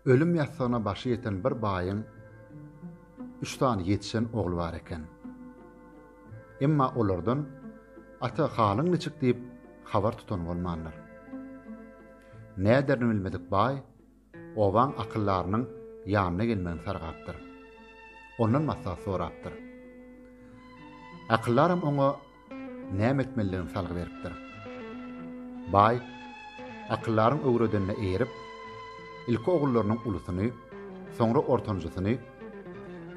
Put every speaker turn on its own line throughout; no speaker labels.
Ölüm ýassygyna başy ýeten bir baýyň üç sany ýetişen ogly bar eken. Emma olardan Ata halyň niçik diýip habar tutan bolmandyr. Näderini bilmedik baý obaň akyldarynyň ýanyna gelmegini sargapdyr. Ondan maslahat sorapdyr. Akyldaram oňa Näme etmelidigini salgy beripdir. Baý, Akyldaryň öwredenine eýerip, ilki ogullarynyň ulusyny, soňra ortanjysyny,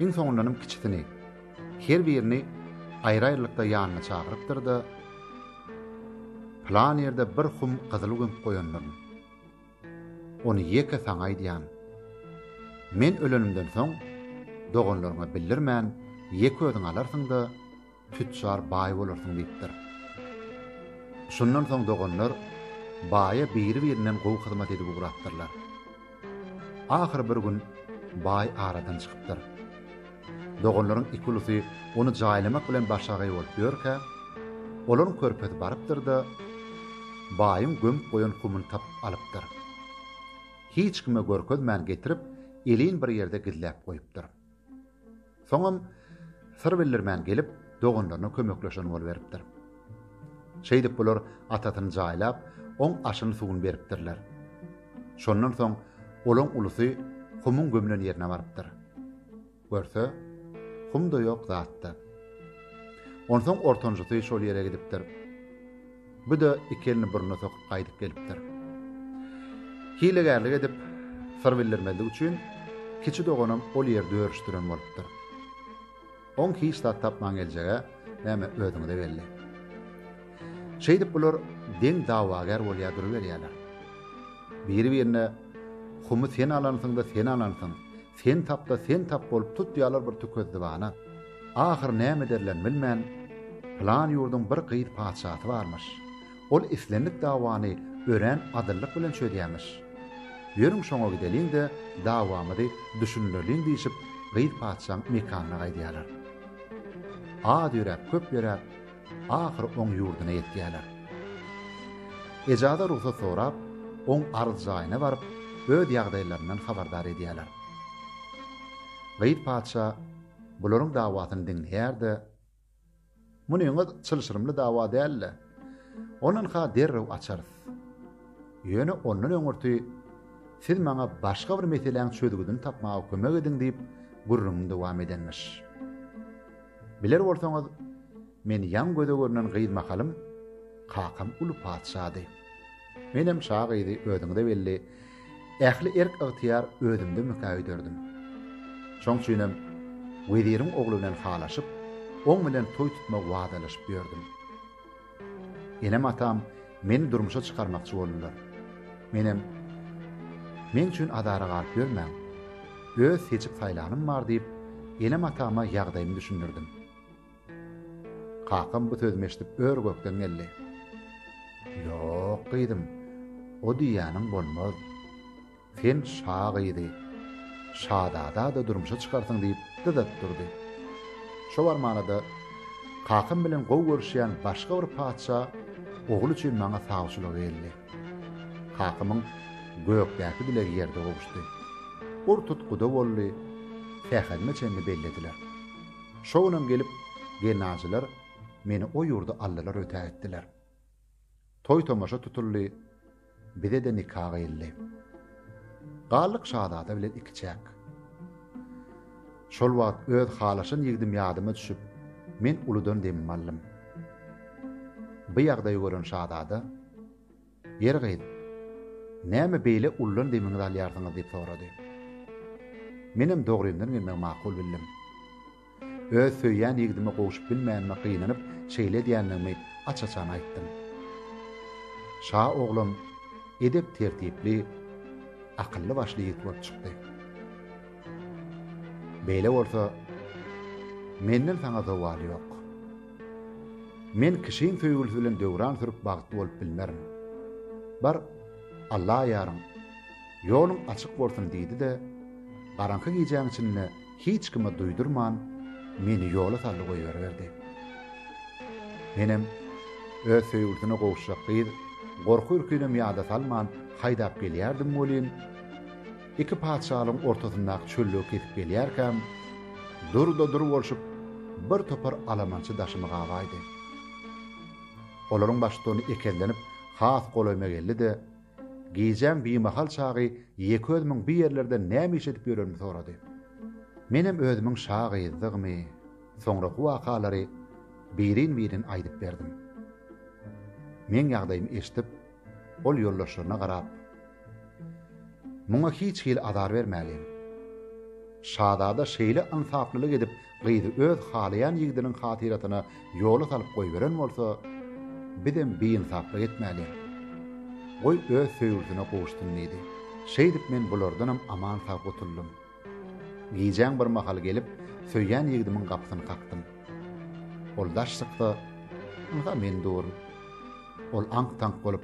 iň soňundanam kiçisini, her birini aýry-aýrylykda ýanyna çagyrypdyr-da, Pylan ýerde bir hum gyzyl gömüp goýandyryn. Ony ýeke saňa aýdýan. Men ölenimden soň, doganlaryňa bildirmän, ýeke özüň alarsyň-da, tüçjar baý bolarsyň diýipdir. Şundan soň doganlar baýa biri-birinden gowy hyzmat edip ugrapdyrlar. Ahyry bir gün baý aradan çykypdyr. Doganlaryň iki ulusy ony jaýlamak bilen başagaý bolup ýörkä, olaryň körpesi barypdyr-da, baýyň gömüp goýan humyny tapyp alypdyr. Hiç kime görkezmän getirip, elin bir ýerde gizläp goýupdyr. Soňam syr bildirmän gelip, doganlaryna kömekleşen boluberipdir. Şeýdip bular atasyny jaýlap, oň aşyny-suwuny beripdirler. Şondan soň olaň ulusy Humuň gömlen ýerine barypdyr. Görse, Hum-da ýok, zat-da. Onsoň ortanjysy şol ýere gidipdir. Bu-da iki elini burnuna sokup gaýdyp gelipdir. Hilegärlik edip, syr bildirmezlik üçin kiçi doganam ol ýerde örüşdiren bolupdyr. Oň hiç zat tapman geljeg-ä, näme özüňize geldi. Şeýdip bular deň dawagär bolýar duruberýärler. Biri-birine Humy sen alansyň-da sen alansyň, Sen tapda sen tap bolup tutýarlar bir tükezzibana. Ahyr näme ederlerini bilmän, Pylan ýurduň bir gyz patyşasy barmyş. Ol islendik dawany örän adyllyk bilen çözýärmiş. Ýörüň şoňa gideliň-de, dawamyzy düşündireliň diýşip, gyz patyşaň mekanyna gaýdýarlar. Az ýöräp, köp ýöräp, Ahyry oň ýurduna ýetýärler. Ejaza rugsat sorap, oň arz jaýyna baryp, öz ýagdaýlaryndan habardar edýärler. Gyýyt patyşa bularyň dawasyny diňleýär-de, Munyňyz çylşyrymly dawa däl-de, ondan-ha derrew açarys. Ýöne ondan öňürti siz maňa başga bir meseläň çözgüdini tapmaga kömek ediň diýip, gürrüňini dowam edenmiş. Biler bolsaňyz, men ýaň göze görnen gyz mahalym, kakam uly patyşady. Menem şa gyzy özüňize belli, ähli erk-ygtyýar özümdemikä öýderdim. Şoň üçinem weziriň ogly bilen halaşyp, oň bilen toý tutma wadalaşyp ýördüm. Enem-atam meni durmuşa çykarmakçy boldular. Menem, Meň üçin azara galyp ýörmäň. Öz seçip saýlanym bar diýip, enem-atama ýagdaýymy düşündirdim. Kakam bu sözümi eşidip ör-gökden geldi. Ýok, gyzym, o diýýäniň bolmaz. Sen şa gyzy şazada-da durmuşa çykarsyň diýip dyz atyp durdy. Şo barmana-da kakam bilen gowy görüşýän başga bir patyşa ogly üçin maňa sawçylyga geldi. Kakamyň gökdäki dilegi ýerde gowuşdy. Ur tut guda boldy, sähedime çenli bellediler. Şo günem gelip gelnaçylar meni o ýurda aldylar ötä etdiler. Toý-tomaşa tutuldy, bize-de nika gyýyldy. Galdyk şazada bilen ikiçäk. Şol wagt öz halaşan ýigdim ýadyma düşüp, men uludan demimi aldym. Bu ýagdaýy gören şazada, Ýer gyz, näme beýle uludan demiňizi alýarsyňyz diýip sorady. Menem dogrymdan gelmegi makul bildim. Öz söýýän ýigdime gowşup bilmänime gynanyp, şeýle edýändigimi aç-açan aýtdym. Şa oglan edep-tertipli, akylly-başly ýigit bolup çykdy. Beýle bolsa, menden saňa zowal ýok. Men kişiň söýgülisi bilen döwran sürüp bagtly bolup bilmerin. Bar, Alla aýaryň, ýoluň açyk bolsun diýdi-de, garaňky gijäň içinde hiç kime duýdurman, meni ýola saldy goýberiberdi. Menem öz söýgülisine gowuşjak gyz gorky-ürkinem ýada salman haýdap gelýärdim welin, iki patyşalygyň ortasyndaky çöllügi kesip gelýärkäm, dur-da dur bolşup, bir topar alamançy daşymy gabaýdy. Olaryň baştutany ekezlenip, has golaýyma geldi-de, Gijäň bimahal çagy ýeke özümiň bu ýerlerde näme iş edip ýörenimi sorady. Menem özümiň şa gyzdygymy, soňraky wakalary birin-birin aýdyp berdim. Meň ýagdaýymy eşidip, ol ýoldaşlaryna garap, Muňa hiç hili azar bermäliň. Şazada şeýle ynsaplylyk edip, Gyzy öz halaýan ýigdiniň hatyrasyna ýola salyp goýberen bolsa, bizem biýnsaplyk etmäliň. Goý, öz söýgülisine gowuşsyn diýdi. Şeýdip men bulardanam aman-sag gutuldym. Gijäň bir mahaly gelip, söýýän ýigdimiň gapysyny kakdym. Ol daş çyksa, ynha men durun. Ol aňk-taňk bolup,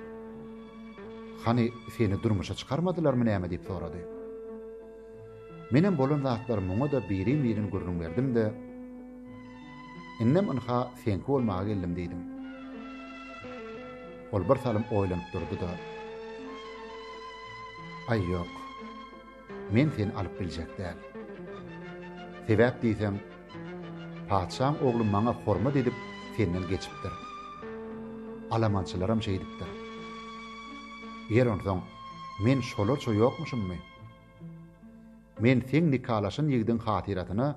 Hany, seni durmuşa çykarmadylarmy näme diýip sorady. Menem bolan zatlary muňa-da birin-birin gürrüň berdim-de, Indem ynha seňki bolmaga geldim diýdim. Ol bir salym oýlanyp durdy-da, Aý ýok, men seni alyp biljek däl. Sebäp diýseň, patyşaň ogly maňa hormat edip senden geçipdir. Alamançylaram şeýdipdir. Ýer onsoň, men şolarça ýokmuşymmy? Men seň nikalaşan ýigidiň hatyrasyna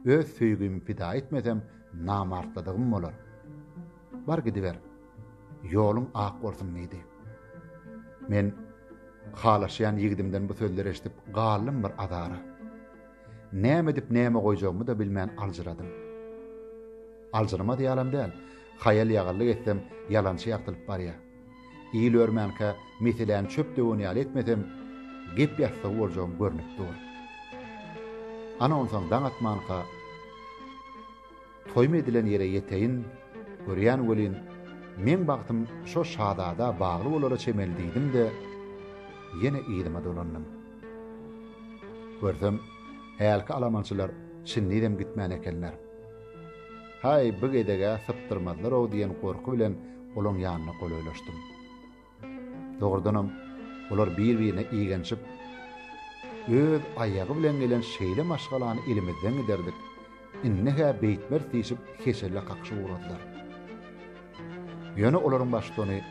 öz söýgimi pida etmesem, namartlydygym bolar. Bar gidiber. Ýoluň ak bolsun diýdi. Men halaşýan ýigidimden bu sözleri eşidip galdym bir azara. Näme edip näme goýjagymy-da bilmän aljyradym. Aljyrmaz ýalam däl, haýal-ýagyrlyk etsem ýalançy ýagtylyp barýar. Il örmänkä meseläni çöp döwen ýaly etmesem, gep ýassygy boljagym görnüp dur. Ana onsoň daň atmanka toýum edilen ýere ýeteýin, görýän welin, meň bagtym şo şazada bagly bolara çemeli diýdim-de, ýene yzyma dolandym. Görsem, hälki alamançylar çyndyzam gitmän ekenler. Haý, bu gezeg-ä sypdyrmazlar-ow diýen gorky bilen olaň ýanyna golaýlaşdym. Dogrudanam, olar bir-birine igenişip, Öz aýagy bilen gelen şeýle maşgalany elimizden giderdik, indi-hä beýtmeris diýşip heçelle kakyşyp ugradylar. Ýöne olaryň baştutany,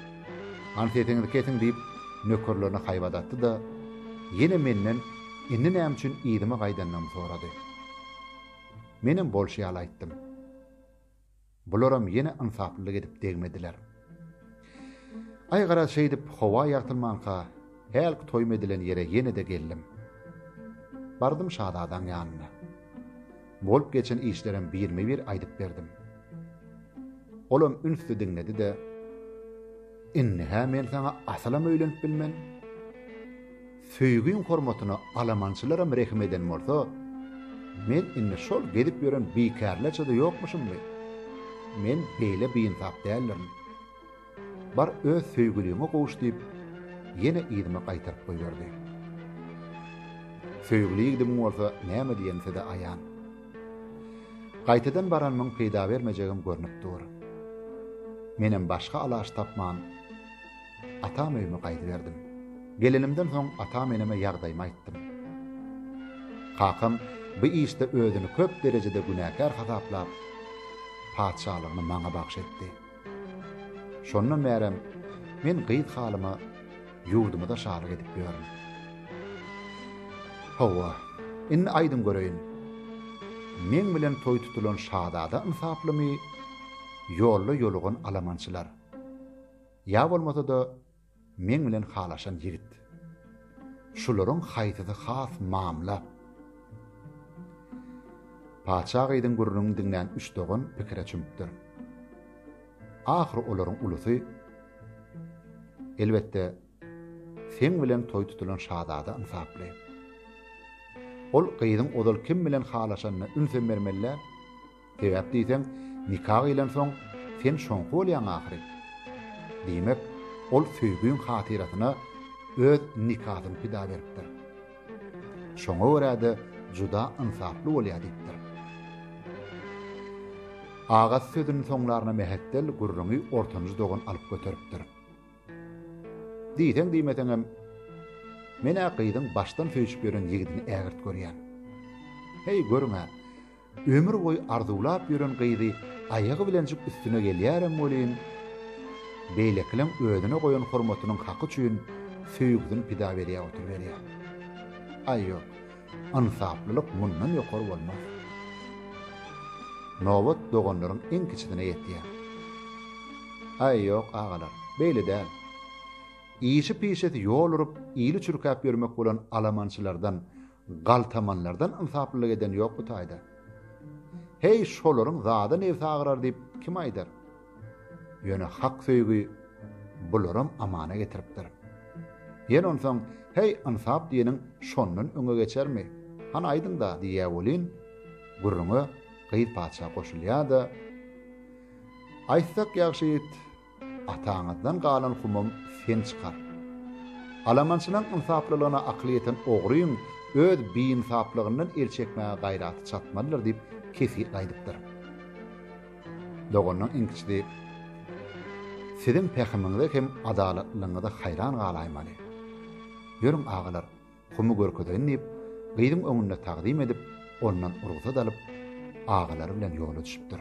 Hany sesiňizi kesiň diýip, nökerlerine haýbat atdy-da, ýene menden indi näme üçin yzyma gaýdandygymy sorady. Menem bolşy ýaly aýtdym. Bularam ýene ynsaplylyk edip degmediler. Aý garaz şeýdip howa ýagtylmanka hälki toýum edilen ýere ýene-de geldim. Bardym şazadaň ýanyna. Bolup geçen işlerem birme-bir aýdyp berdim. Olam ünsli diňledi-de, Indi-hä men saňa asylam öýlenip bilmen. Söýgiň hormatyna alamançylaram rehim eden bolsa, men indi şol gezip ýören bikärlerçe-de ýokmuşymmy? Men beýle biinsap däldirin. Bar öz söýgüliňe gowuş diýip, ýene yzyma gaýtaryp goýberdi. Söýgüli ýigdimiň bolsa näme diýeni size aýan. Gaýtadan baranymyň peýda bermejegem görnüp dur. Menem başga alaç tapman, Atam öýüme gaýdyberdim. Gelenimden soň atam-eneme ýagdaýymy aýtdym. Kakam bu işde özüni köp derejede günäkär hasaplap, patyşalygyny maňa bagş etdi. Şondan bärem men gyz halyma ýurdumyza şalyk edip ýörün. Hawa, indi aýdyň göreýin, meň bilen toý tutulan şazada ynsaplymy, ýolda ýolugan alamançylar? Ýa bolmasa-da, meň bilen halaşan ýigit. Şularyň haýsysy has mamla? Patyşa gyzyň gürrüňini diňlän üç dogan pikire çümüpdir. Ahyry olaryň ulusy, Elbetde, seň bilen toý tutulan şazada ynsaply. Ol gyzyň ozal kim bilen halaşanyna ünsem bermeli däl. Sebäp diýseň, nika gylansoň, sen şoňky bolýaň ahyry. Diýmek, ol söýgiň hatyrasyna öz nikasyny pida beripdir. Şoňa görä-de juda ynsaply bolýar diýipdir. Agasy sözüniň soňlaryna mähetdel gürrüňi ortanjy dogan alyp göteripdir. Diýseň-diýmeseňem, men-ä gyzyň başdan söýşüp ýören ýigidini ägirt görýän. Heý, görüň-ä, Ömür boýy arzuwlap ýören gyzy aýagy bilenjik üstüne gelýärem welin, beýlekileň özüne goýan hormatynyň haky üçin söýgüsini pida berýär oturyberýär. Aý ýok, ynsaplylyk mundan ýokary bolmaz. Nobat doganlaryň iň kiçisine ýetýär. Aý ýok, agalar, beýle däl. Işi-pişesi ýol urup, ili çürkäp ýörmek bolan alamançylardan Galtamanlardan ynsaplylyk eden ýok bu taýda. Heý, şolaryň zady nebsi agyrar diýip kim aýdar? Ýöne hak söýgi bularam amana getiripdir. Ýene onsoň, heý, ynsap diýeniň şondan öňe geçermi? Hany aýdyň-da, diýýär welin, gürrüňe gyz-patyşa goşulýar-da, Aýtsak ýagşy ýigit, Ataňyzdan galan humam sen çykar. Alamançylaň ynsaplylygyna akyly ýeten ogryň öz biynsaplygyndan el çekmäge gaýraty çatmalydyr diýip kesgitli aýdypdyr. Doganynyň iň kiçisi Siziň pähimiňize hem adalatlylygyňyza haýran galaýmaly. Ýörüň, agalar, humy görkezeýin diýip, gyzyň öňünde tagzym edip, ondan rugsat alyp, agalary bilen ýola düşüpdir.